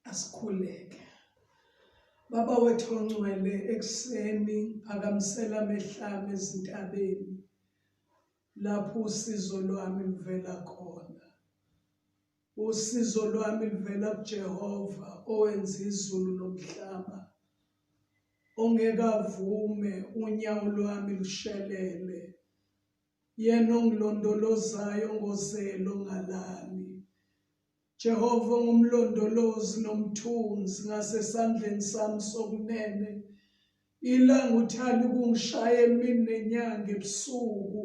asikhuleke baba wethu ongcwele ekuseni phakamisela amehlami ezintabeni lapho usizo lwami luvela khona Usizo lwami luvela kuJehova owenza izulu nomhlaba. Ongeke avume unyawo lwami lushelele. Yena ongilondolozayo ngozelo ngalami. Jehova ungumlondolozi nomthunzi ngasesandleni sami sokunene. Ilanga uthanda ukungishaya emini nenyanga ebusuku.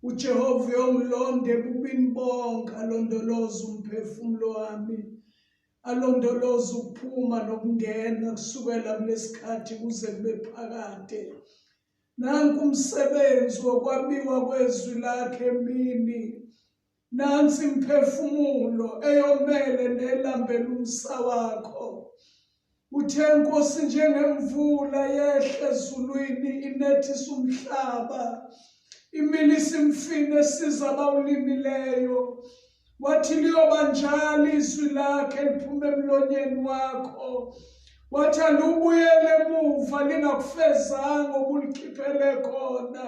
UJehova uyongilonda ebubini bonke alondoloze umphefumulo wami. Alondoloze ukuphuma nokungena kusukela kulesikhathi kuze kube phakade. Nanku umsebenzi wokwabiwa kwezwi lakhe emini Nansi imphefumulo eyomele nelambela umsa wakho. Uthe inkosi njengemvula yehle ezulwini inethisa umhlaba. Imini simfine siza abawulimileyo. Wathi liyoba njalo izwi lakhe liphuma emlonyeni wakho. Wathi alubuyele emuva lingakufezanga okulikhiphele khona.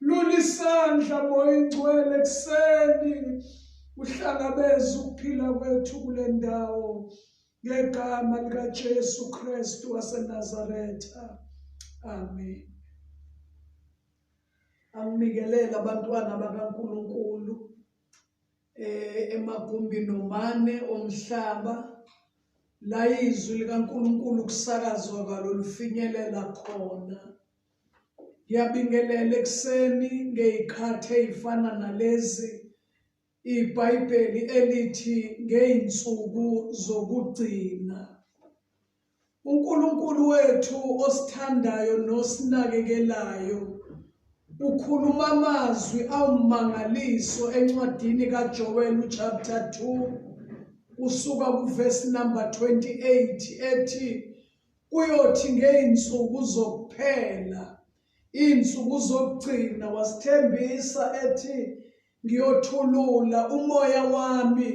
Lulisandla moya ingcwele kuseni uhlangabeza ukuphila kwethu kule ndawo ngegama likaJesu Kristu waseNazaretha. Amen. Anginikelele abantwana bakaNkuluNkulu eh emagumbi nomane omhlaba la izwi likaNkuluNkulu kusakazwa kalolufinyelela khona. Ngiyabingelela ekuseni ngey'khathi ey'fana nalezi ibhayibheli elithi ngey'nsuku zokugcina. UNkulunkulu wethu osithandayo nosinakekelayo ukhuluma amazwi awumangaliso encwadini kaJoel chapter 2 kusuka kuvesi number 28 ethi Kuyothi ngey'nsuku zokuphela, iy'nsuku zokugcina, wasithembisa ethi, Ngiyothulula umoya wami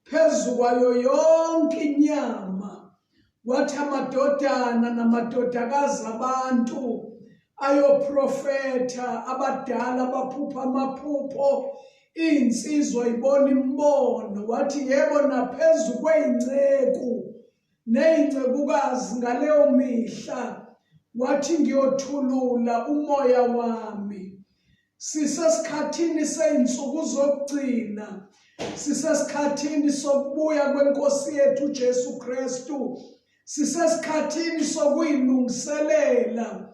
phezu kwayo yonke inyama. Wathi amadodana namadodakazi abantu ayoprofetha, abadala baphupha amaphupho, iy'nsizwa ibona imibono. Wathi, Yebo, naphezu kwey'nceku neyincekukazi ngaleyo mihla wathi ngiyothulula umoya wami sisesikhathini seyinsuku zokugcina sisesikhathini sokubuya kwenkosi yethu uJesu Kristu sisesikhathini sokuyilungiselela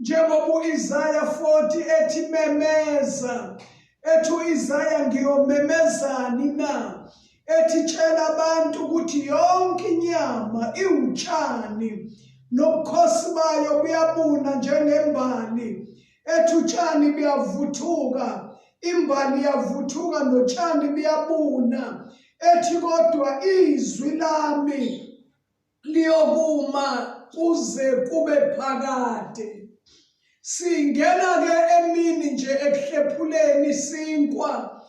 Njengoba uIsaya 40 ethi memeza, ethi uIsaya ngiyomemezani na? Ethi tshela abantu ukuthi yonke inyama iwutshani nobukhosi bayo buyabuna njengembali. Ethi utshani buyavuthuka, imbali yavuthuka notshani buyabuna. Ethi kodwa izwi lami liyokuma kuze kube phakade singena ke emini nje ekuhlephuleni sinkwa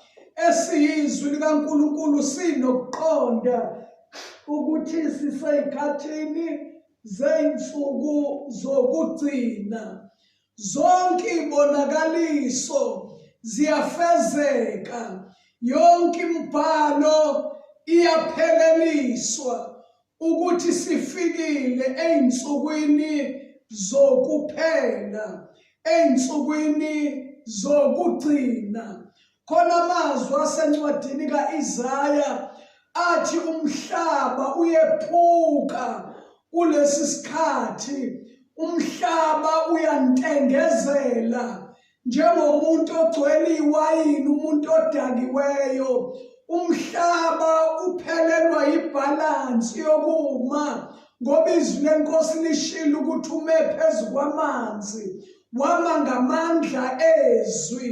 esiyizwi likaNkulunkulu sinokuqonda ukuthi siseyikhathini zeyinsuku zokugcina Zonke ibonakaliso ziyafezeka, yonke imibhalo iyapheleliswa ukuthi sifikile ezinsukwini zokuphela, ezinsukwini zokugcina. khona amazwi asencwadini ka-Isaya athi umhlaba uyephuka kulesi sikhathi umhlaba uyantengezela njengomuntu ogcwele iwayini umuntu odakiweyo umhlaba uphelelwa yibhalansi yokuma ngoba izwi lenkosi lishilo ukuthi ume phezu kwamanzi wama ngamandla ezwi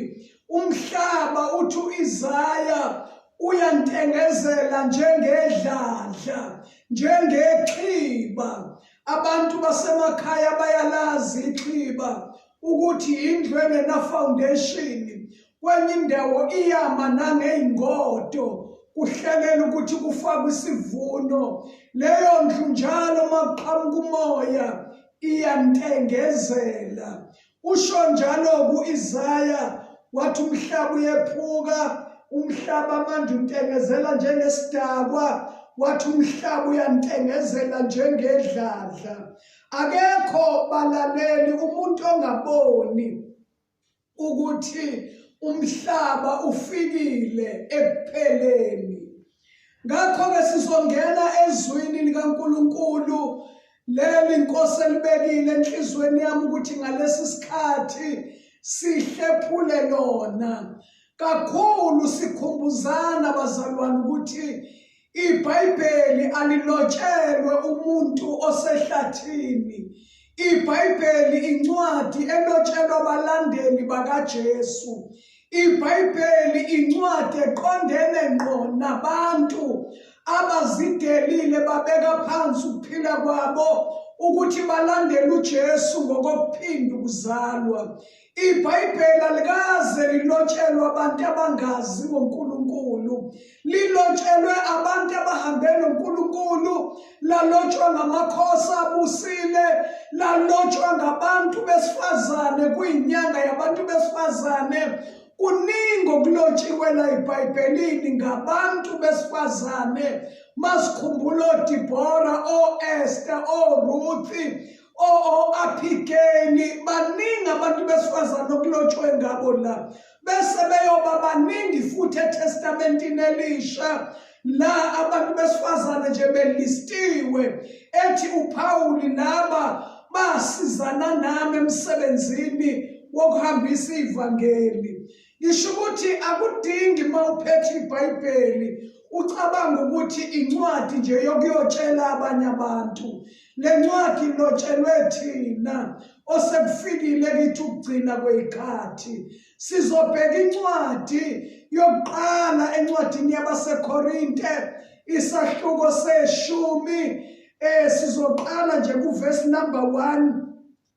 umhlaba uthi uIsaya uyantengezela njengedladla njengexhiba abantu basemakhaya bayalazi ixhiba ukuthi indlu engena foundation kwenye indawo iyama nangeyingodo kuhlelela ukuthi kufakwe isivuno leyo ndlu njalo makuqhamuka umoya iyantengezela Usho njalo ku-Isaya wathi umhlaba uyephuka, umhlaba manje untengezela njengesidakwa, wathi umhlaba uyantengezela njengedladla. Akekho balaleli umuntu ongaboni ukuthi umhlaba ufikile ekupheleni Ngakho-ke sizongena ezwini likaNkulunkulu leli Nkosi elibekile enhlizweni yami ukuthi ngalesi sikhathi sihlephule lona kakhulu sikhumbuzana bazalwane ukuthi iBhayibheli alilotshelwe umuntu osehlathini iBhayibheli incwadi elotshelwa abalandeli bakaJesu IBhayibheli incwadi eqondene ngqo nabantu abazidelile babeka phansi ukuphila kwabo ukuthi balandele uJesu ngokokuphinda ukuzalwa. IBhayibheli alikaze lilotshelwa abantu abangazi ngoNkulunkulu. lilotshelwe abantu abahambe noNkulunkulu lalotshwa ngamakhosi abusile lalotshwa ngabantu besifazane kuyinyanga yabantu besifazane kuningi okulotshiwe la ebhayibhelini ngabantu besifazane masikhumbula odibhora o-esta oruthi o-aphikeni baningi abantu besifazane okulotshwe ngabo la bese beyoba baningi futhi eTestamentini Elisha la abantu besifazane nje belistiwe ethi uPawuli naba basizana nami emsebenzini wokuhambisa ivangeli ngisho ukuthi akudingi uma uphethe ibhayibheli ucabanga ukuthi incwadi nje yokuyotshela abanye abantu Le ncwadi ilotshelwe thina osekufikile kithi ukugcina kweyikhathi. Sizobheka incwadi yokuqala encwadini yabaseKorinte isahluko seshumi eh sizoqala nje kuvesi number 1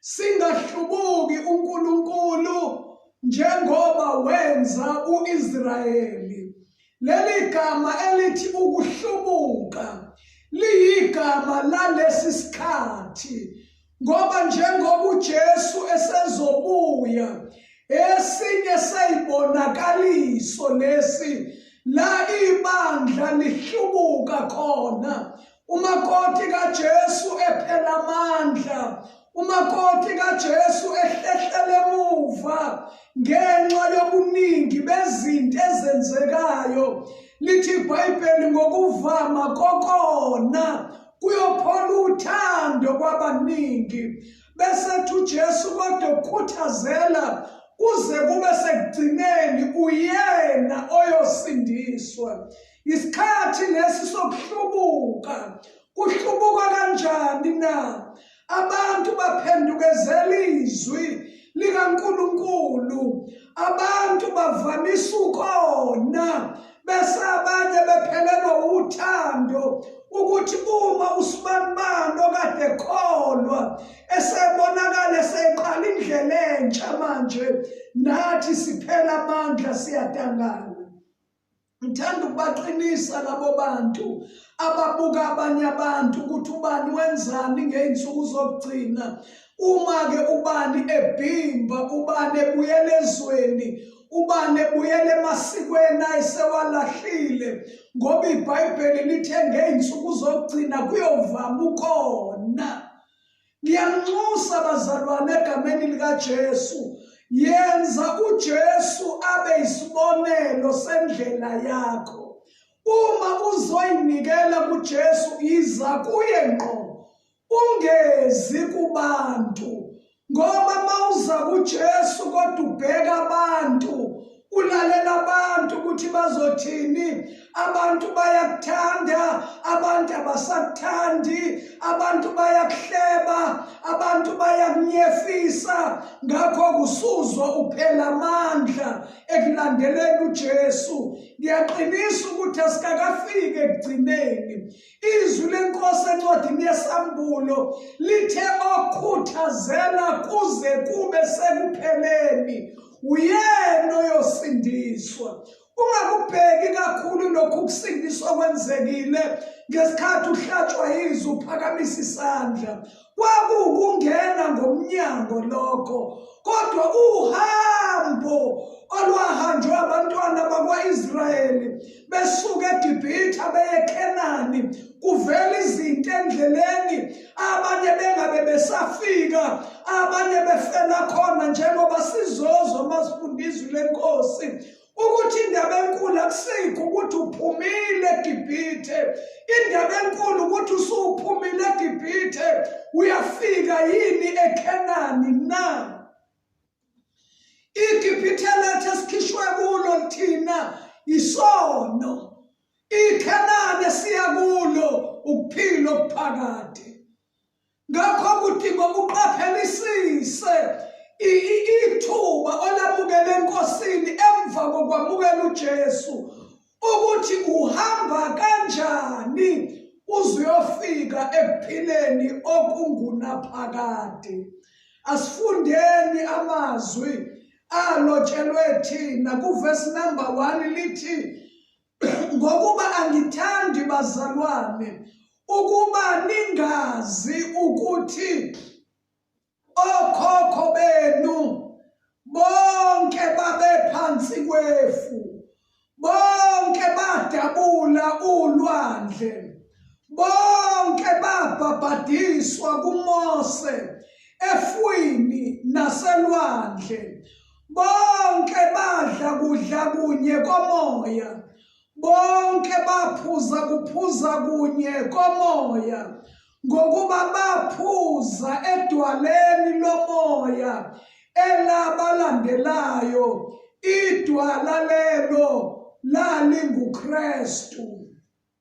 Singahlubuki uNkulunkulu njengoba wenza uIsrayeli. Leli gama elithi ukuhlubuka liyigama lalesi sikhathi ngoba njengoba uJesu esezobuya esinye seyibonakaliso lesi la ibandla lihlubuka khona umakoti kaJesu ephela amandla umakoti kaJesu ehlehlela emuva ngenxa yobuningi bezinto ezenzekayo lithi iBhayibheli ngokuvama kokona kuyophola uthando kwabaningi bese thi uJesu kodwa ukhuthazela kuze kube sekugcineni uyena oyosindiswa Isikhathi lesi sokuhlubuka kuhlubuka kanjani na? Abantu baphendukezela izwi likaNkulunkulu. Abantu bavamisa ukona bese abanye bephelelwa uthando ukuthi uma usibanibani okade ekholwa esebonakala eseqala indlela entsha manje nathi siphela amandla siyadangana ngithanda ukubaqinisa labo bantu ababuka abanye abantu ukuthi ubani wenzani ngey'nsuku zokugcina uma-ke ubani ebhimba ubani ebuyela ezweni ubani ebuyela emasikweni ayesewalahlile ngoba ibhayibheli lithe ngey'nsuku zokugcina kuyovama ukhona Ngiyanxusa bazalwane egameni likaJesu. Yenza uJesu abe isibonelo sendlela yakho. Uma uzoyinikela kuJesu iza kuye ngqo. Ungezi kubantu. Ngoba mawuza kuJesu kodwa ubheka abantu ulalela abantu ukuthi bazothini abantu bayakuthanda abantu abasakuthandi abantu bayakuhleba abantu bayakunyefisa ngakho kusuzwa uphela amandla ekulandeleni uJesu ngiyaqinisa ukuthi asikakafiki ekugcineni Izwi lenkosi encwadini yesambulo lithe okhuthazela kuze kube sekupheleni uyena oyosindiswa ungakubheki kakhulu lokhu kusindiswa kwenzekile ngesikhathi uhlatshwa yizwi uphakamisa isandla Kwakuwukungena ngomnyango lokho, kodwa uhambo olwahanjwe abantwana bakwa-Israyeli besuka eGibhithe beye eKhenani kuvela izinto endleleni abanye bengabe besafika abanye befela khona njengoba sizozwa uma sifunda izwi lenkosi ukuthi indaba enkulu akusikho ukuthi uphumile egibhithe indaba enkulu ukuthi usuphumile egibhithe uyafika yini ekhenani na igibhithe lethu esikhishwe kulo thina isono ikhenani esiya kulo ukuphila okuphakade Ngakho kudinga ukuqaphelisise ithuba olamukele enkosini emva kokwamukela uJesu ukuthi uhamba kanjani uzuyofika ekuphileni okungunaphakade asifundeni amazwi alotshelwe thina kuvesi number 1 lithi ngokuba angithandi bazalwane ukuba ningazi ukuthi okhokho benu bonke babephansi kwefu bonke badabula ulwandle bonke babhabhadiswa kuMose efwini naselwandle Bonke badla kudla kunye komoya. Bonke baphuza kuphuza kunye komoya. Ngokuba baphuza edwaleni lomoya elabalandelayo idwala lelo lalinguKristu.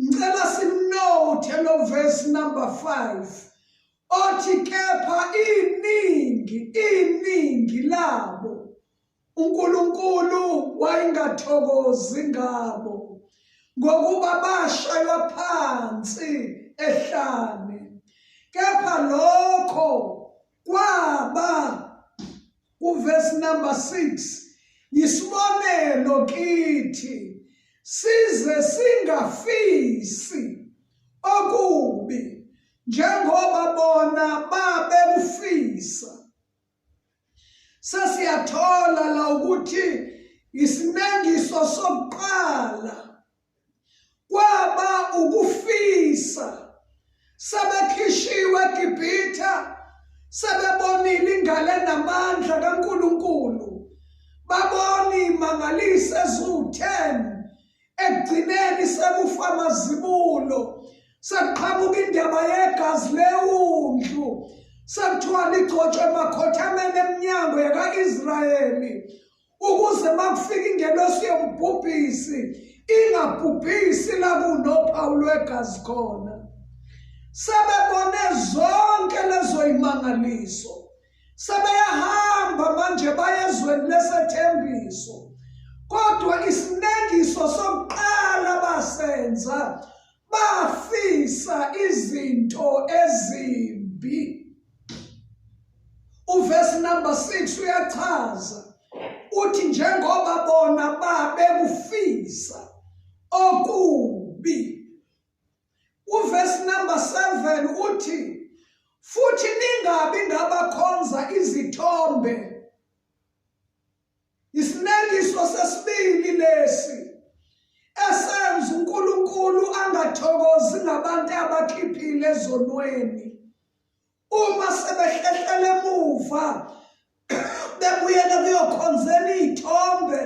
ngicela sinothe lo verse number 5 othi kepha iningi iningi labo uNkulunkulu wayengathokozi ngabo ngokuba bashaywa phansi ehlane kepha lokho Kwaba kuverse number 6 yisibonelo kithi size singafisi okubi njengoba bona babekufisa sesiyathola la ukuthi isinengiso sokuqala kwaba ukufisa sebekhishiwe eGibhithe sebebonile ingale namandla kaNkulunkulu babona imangaliso eziwu-10 ekugcineni sekufa amazibulo sekuqhamuka indaba yegazi lewundlu sekuthiwa ligcotshwe emakhothameni eminyango yaka-israyeli ukuze makufika ingelosi yombhubhisi ingabhubhisi la kunophawu lwegazi khona sebebone zonke lezo imangaliso sebeyahamba manje bayezweni lesethembiso kodwa isinengiso sokuqala basenza bafisa izinto ezimbi uverse number 6 uyachaza uthi njengoba bona babekufisa okubi uverse number 7 uthi futhi ningabi ngabakhonza izithombe isinekiso sesibili lesi esenza uNkulunkulu angathokozi ngabantu abakhiphile ezonweni uma sebehlehlela emuva bebuyela kuyokhonzela iy'thombe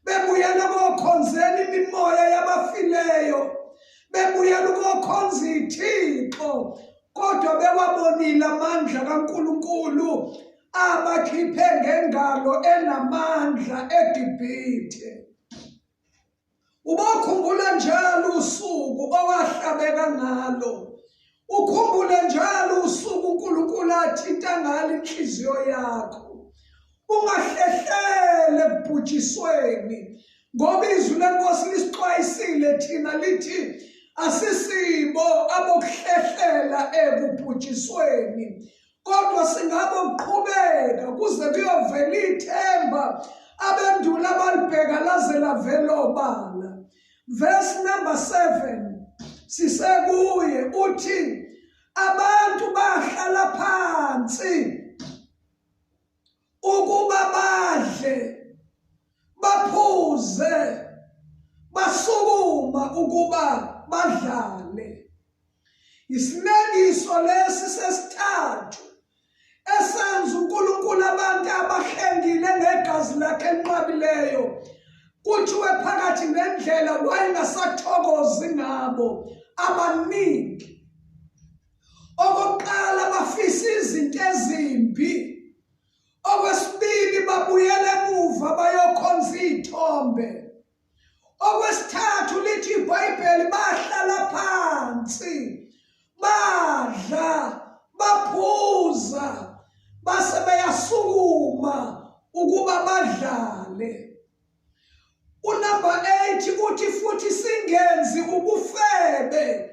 bebuyela kokhonzela imimoya yabafileyo bebuyela ukokhonza iy'thixo kodwa bewabonile amandla kaNkulunkulu abakhiphe ngengalo enamandla eGibhithe Ubokhumbula njalo usuku owahlabeka ngalo. Ukhumbule njalo usuku uNkulunkulu athinta ngalo inhliziyo yakho. Ungahlehlele kubhujisweni ngoba izwi lenkosi lisixwayisile thina lithi asisibo abokuhlehlela ekubhujisweni kodwa singabe ukuqhubeka kuze kuyovela ithemba abendula abalibheka laze lavela obala verse number 7 sisekuye uthi abantu bahlala phansi ukuba badle baphuze basukuma ukuba badlale isinekiso lesi sesithathu esenza uNkulunkulu abantu abahlengile ngegazi lakhe enqabileyo kuthiwe phakathi nendlela wayengasathokozi ngabo abaningi Okokuqala bafisa izinto ezimbi. Okwesibili babuyela emuva bayokhonza izithombe. Okwesithathu lithi iBhayibheli bahlala phansi. Badla, baphuza, base beyasukuma ukuba badlale. Unumber 8 uthi futhi singenzi ubufebe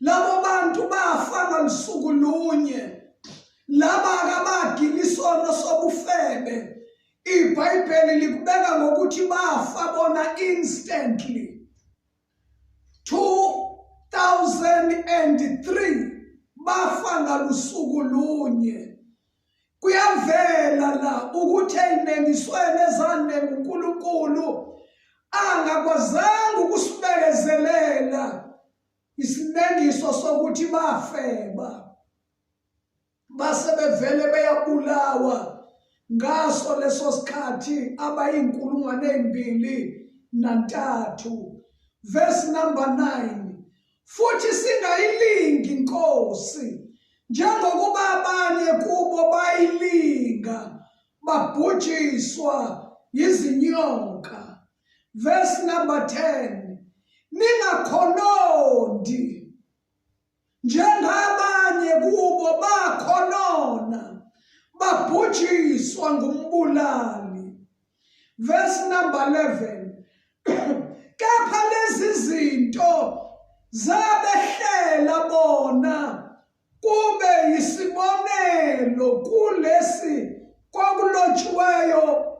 labo bantu bafa ngolusuku lunye laba akabagili isono sobufebe ibhayibheli likubeka ngokuthi bafa bona instantly 2003 bafa ngalusuku lunye Kuyavela la ukuthi eyimengisweni ezande nguNkulunkulu angakwazanga ukusibekezelela isimengiso sokuthi bafeba base bevele beyabulawa ngaso leso sikhathi abayinkulungwane ezimbili nantathu verse number 9 futhi singayilingi inkosi njengokuba abanye kubo bayilinga babhujiswa yizinyoka verse number 10 ningakhonondi njengabanye kubo bakhonona babhujiswa ngumbulali verse number 11 kepha lezi zinto zabehlela bona kube yisibonelo kulesi kwakulotshiweyo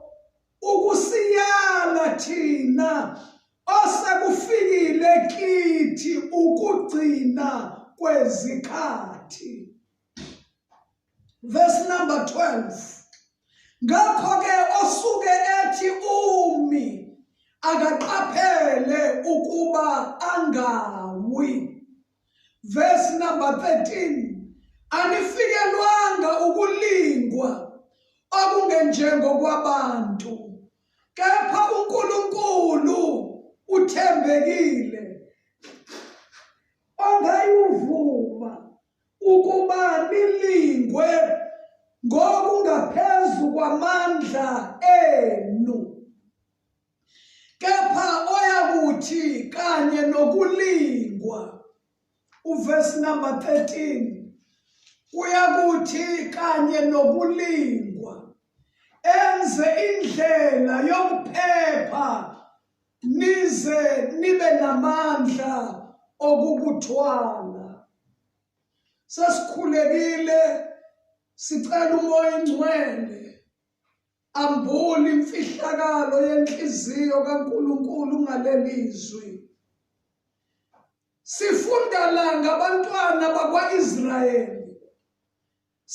ukusiyala thina osekufikile kithi ukugcina kwezikhathi verse number 12 ngakho ke osuke ethi umi akaqaphele ukuba angawi verse number 13 anifikelwanga ukulingwa okungenjengokwabantu kepha uNkulunkulu uthembekile ongayivuma ukuba nilingwe ngokungaphezu kwamandla enu kepha oyakuthi kanye nokulingwa uverse number 13 kuyakuthi kanye nokulingwa enze indlela yokuphepha nize nibe namandla okukuthwala sesikhulekile sicela umoya ingcwele ambula imfihlakalo yenhliziyo kaNkuluNkulu ngalelizwi sifunda la ngabantwana bakwaIsrayeli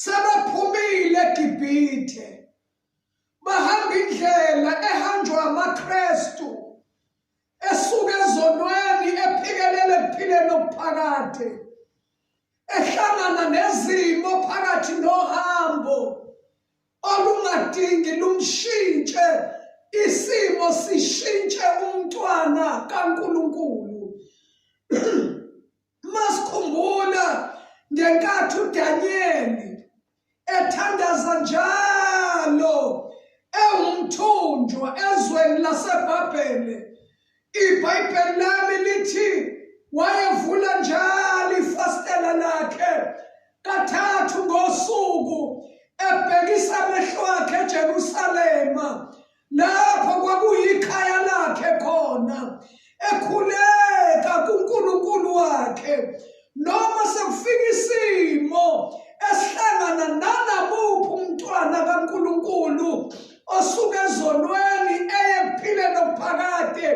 Sebephumile eGibhithe, bahamba indlela ehanjwa amaKristu esuka ezonweni ephikelele ekuphileni okuphakade, ehlangana nezimo phakathi nohambo olungadingi lumshintshe isimo sishintshe umntwana kaNkulunkulu. Masikhumbula ngenkathi uDanyeli ethandaza njalo ewumthunjwa ezweni laseBhabhele. IBhayibheli lami lithi wayevula njalo ifastela lakhe kathathu ngosuku ebhekisa amehlo akhe eJerusalema lapho kwakuyikhaya lakhe khona ekhuleka kuNkulunkulu wakhe noma sekufika isimo esihlangana nanabuphi umntwana kaNkulunkulu osuke ezonweni eye kuphileni okuphakade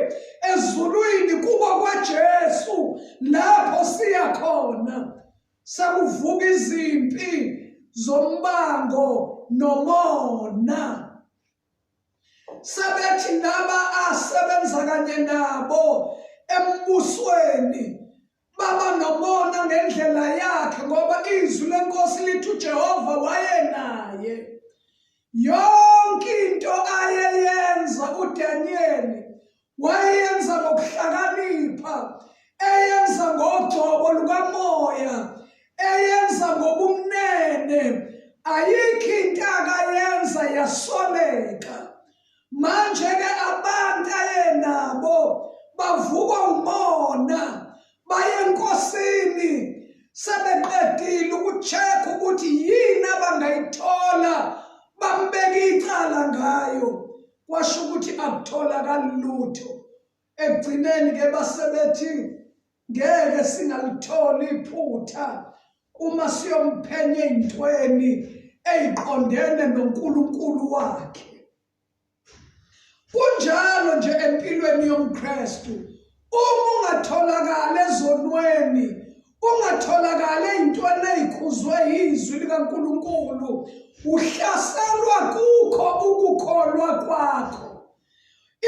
ezulwini kubo kwaJesu lapho siya khona sekuvuka izimpi zombango nomona sebethi laba asebenza kanye nabo embusweni baba nomona ngendlela yakhe ngoba izwi lenkosi lithi uJehova wayenaye yonke into ayeyenza uDaniyeli wayenza ngokuhlakanipha eyenza ngogcobo lukamoya eyenza ngobumnene ayikho into akayenza yasoleka manje-ke abantu ayenabo bavukwa umona baye enkosini sebeqedile ukuchekha ukuthi yini abangayithola bambeke icala ngayo kwasho ukuthi akutholakali lutho ekugcineni ke basebethi ngeke singalitholi iphutha uma siyomphenya ey'ntweni ey'qondene nonkulunkulu wakhe kunjalo nje empilweni yomkristu uma ungatholakali ezonweni ungatholakali ey'ntweni ey'khuzwe yizwi likankulunkulu uhlaselwa kukho ukukholwa kwakho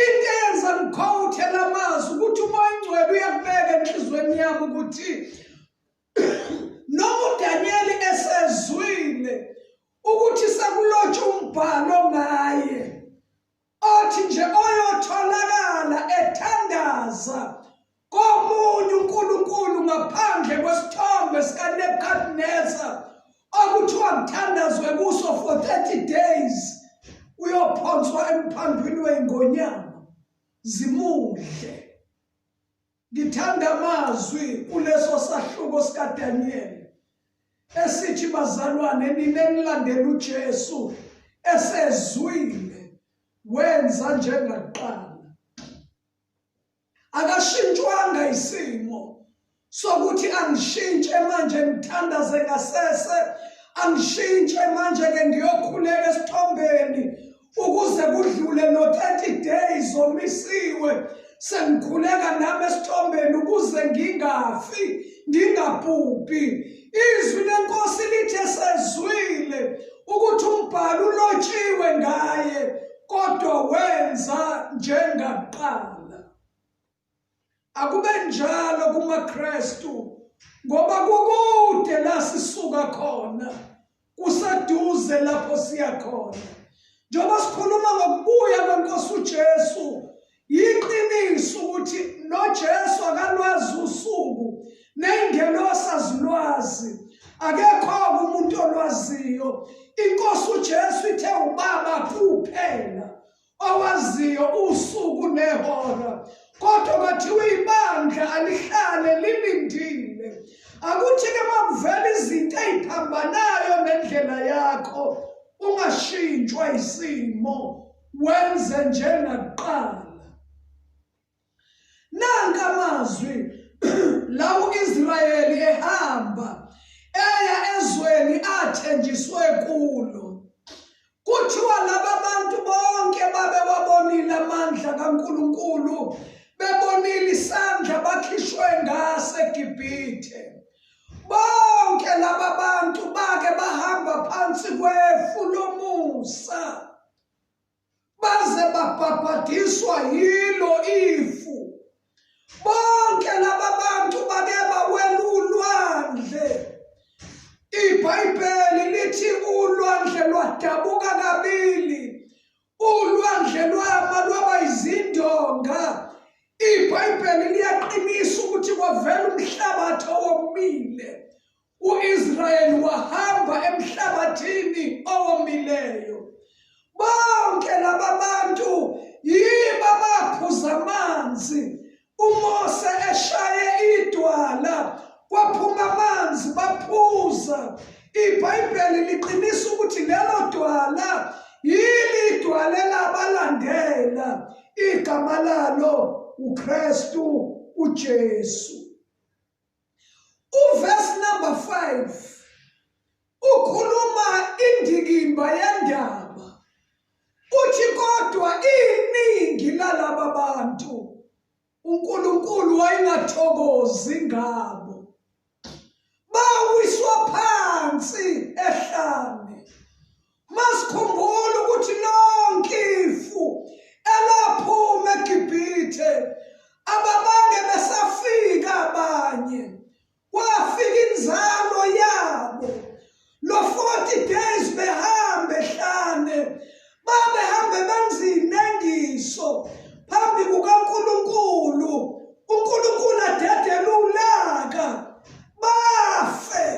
into eyenza ngikhowuthe la mazwi ukuthi uma ingcwele uyakubeka enhliziyweni yami ukuthi noma udanyeli esezwile ukuthi sekulotshwa umbhalo ngaye othi nje oyotholakala ethandaza komunye uNkulunkulu ngaphandle kwesithombe sikaNebukadnezar okuthiwa kuthandazwe kuso for 30 days uyophonswa emphandwini wey'ngonyama zimudle Ngithanda amazwi kuleso sahluko sikaDaniyeli esithi bazalwane nina enilandela uJesu esezwile wenza njengakuqala akashintshwanga isimo sokuthi angishintshe manje ngithandaze ngasese angishintshe manje ke ngiyokhuleka esithombeni ukuze kudlule no 30 days omisiwe sengikhuleka nami esithombeni ukuze ngingafi ngingabhubhi izwi lenkosi lithe sezwile ukuthi umbhalo ulotshiwe ngaye kodwa wenza njengakuqala Akube njalo kumaKristu ngoba kukude la sisuka khona kuseduze lapho siya khona. Njengoba sikhuluma ngokubuya kwenkosi uJesu yiqiniso ukuthi noJesu akalwazi usuku nengelosi azilwazi akekho umuntu olwaziyo inkosi uJesu ithe ubaba kuphela owaziyo usuku nehora kodwa kwathiwa ibandla alihlale lilindile akuthi-ke makuvela izinto eyiphambanayo nendlela yakho ungashintshwa isimo wenze njengakuqala Nanka amazwi lawo Israyeli ehamba eya ezweni athenjiswe kulo. Kuthiwa laba bantu bonke babe wabonile amandla kaNkulunkulu bebonile isandla bakhishwe ngase Gibhithe. Bonke laba bantu bake bahamba phansi kwefu lomusa. baze babhabhadiswa yilo ifu bonke laba bantu bake bawelulwandle ibhayibheli lithi ulwandle lwadabuka kabili ulwandle lwaba lwaba izindonga ibhayibheli liyaqinisa ukuthi kwavela umhlabathi owomile U-Israyeli wahamba emhlabathini owomileyo. Bonke laba bantu yibo abaphuza amanzi uMose eshaye idwala kwaphuma amanzi baphuza. IBhayibheli liqinisa ukuthi lelo dwala yili idwala elabalandela igama lalo uKristu uJesu. Uverse number 5 ukhuluma indikimba yendaba uthi kodwa iningi lalaba bantu uNkulunkulu wayengathokozi ngabo bawiswa phansi ehlane Masikhumbule ukuthi lonke ifu elaphuma eGibhithe ababange besafika abanye kwafika inzalo yabo lo 40 days behambe hlane babehambe benzinengiso phambi kukaNkulunkulu uNkulunkulu adedele ulaka bafe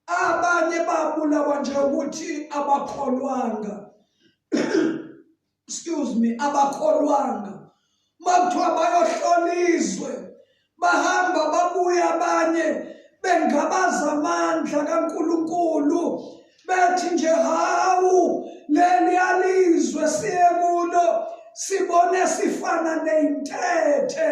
abanye babulawa nje ukuthi abakholwanga excuse me abakholwanga makuthiwa bayohlola izwe bahamba babuya abanye bengabaza amandla kaNkuluNkulu bethi nje hawu leli alizwe siye kulo sibone sifana neyintethe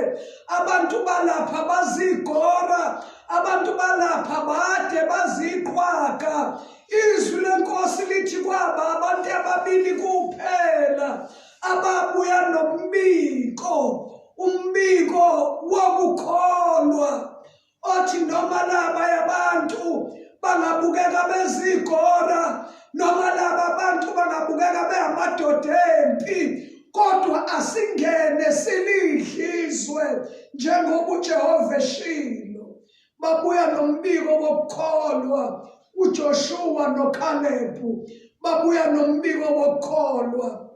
abantu balapha bazigora abantu balapha bade baziqhwaga izwi lenkosi lithi kwaba abantu ababili kuphela ababuya nombiko umbiko wokukholwa othi noma laba yabantu bangabukeka bezigora noma laba bantu bangabukeka behamadoda empi kodwa asingene silidlizwe njengoba uJehova eshilo babuya nombiko wokukholwa uJoshua noKalebu babuya nombiko wokukholwa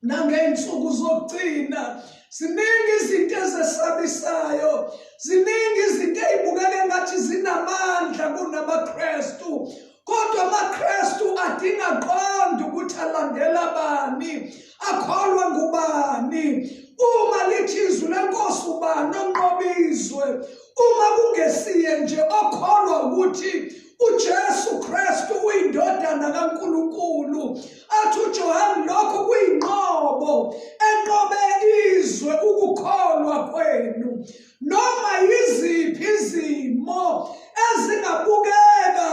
nangey'nsuku zokugcina ziningi izinto ezesabisayo ziningi izinto ey'bukeke ngathi zinamandla kunamaKristu kodwa amaKristu adinga qonda ukuthi alandela bani akholwa ngubani uma lithi izwi lenkosi ubani onqoba izwe uma kungesiye nje okholwa ukuthi uJesu Kristu uyindodana kaNkulunkulu athi uJohane lokho kuyinqobo enqobe izwe ukukholwa kwenu noma yiziphi izimo ezingabukeka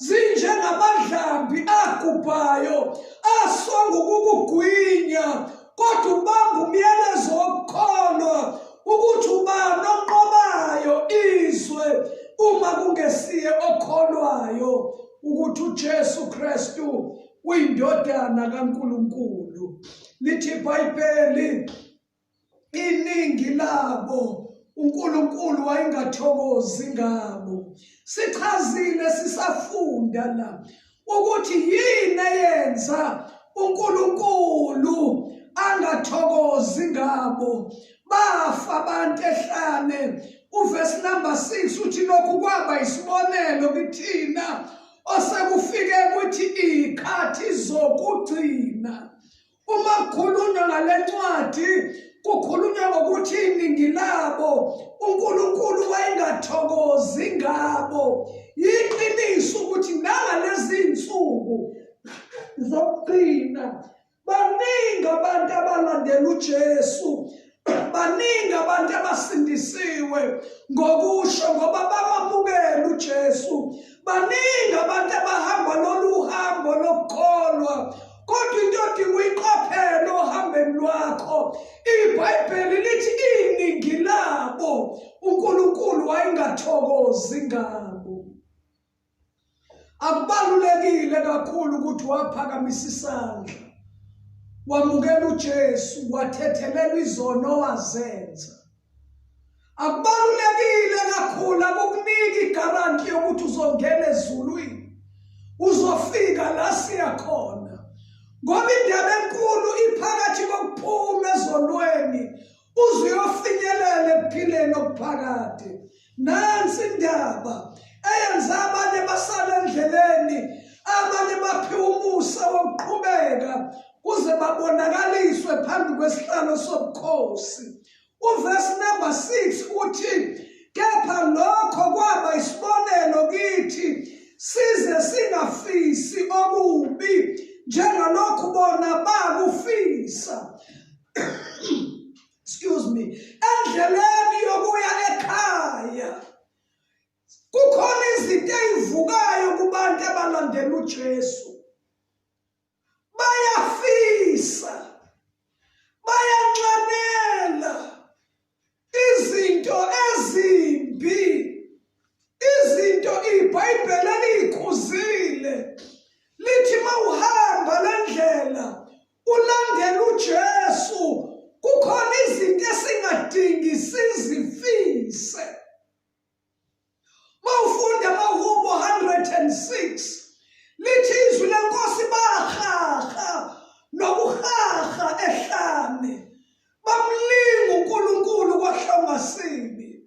zinjengamadlambi agubhayo aswa ngokukugwinya kodwa ubamba umyalezo wokukholwa ukuthi ubani onqobayo izwe uma kungesiye okholwayo ukuthi uJesu Kristu uyindodana kaNkuluNkulu lithi iBhayibheli iningi labo uNkulunkulu wayengathokozi ngabo sichazile sisafunda la ukuthi yini eyenza uNkulunkulu angathokozi ngabo bafa abantu ehlane uvesi number 6 uthi lokhu kwaba isibonelo kithina osekufike ukuthi ikhathi zokugcina Uma kukhulunywa ngale ncwadi kukhulunywa ngokuthi iningi labo uNkulunkulu wayengathokozi ngabo yiqiniso ukuthi nangalezi nsuku zokugcina baningi abantu abalandela uJesu baningi abantu abasindisiwe ngokusho ngoba bamamukela uJesu baningi abantu abahamba lolu hambo lokukholwa kodwa into odinga uyiqaphele ohambeni lwakho ibhayibheli lithi iningi labo unkulunkulu wayengathokozi ngabo akubalulekile kakhulu ukuthi waphakamisa isandla wamukela uJesu wathethelela izono owazenza akubalulekile kakhulu akukunika igaranti yokuthi uzongena ezulwini uzofika la siya khona ngoba indaba enkulu iphakathi kokuphuma ezonweni uze uyofinyelela ekuphileni okuphakade nansi indaba eyenza abanye basale endleleni abanye baphiwa umusa wokuqhubeka kuze babonakaliswe phambi kwesihlalo sobukhosi uvesi number 6 uthi kepha lokho kwaba isibonelo kithi size singafisi okubi njengalokhu bona bakufisa excuse me endleleni yokuya ekhaya kukhona izinto ezivukayo kubantu abalandela uJesu bayafisa bayanxanela izinto ezimbi izinto ibhayibheli eliyikhuzile lithi mawuhamba lendlela ulandela uJesu kukhona izinto esingadingi sizifise mawufunda mahubo 106 lithi izwi lenkosi bahaha nokuhaha ehlane bamlinga uNkulunkulu kwahlongasini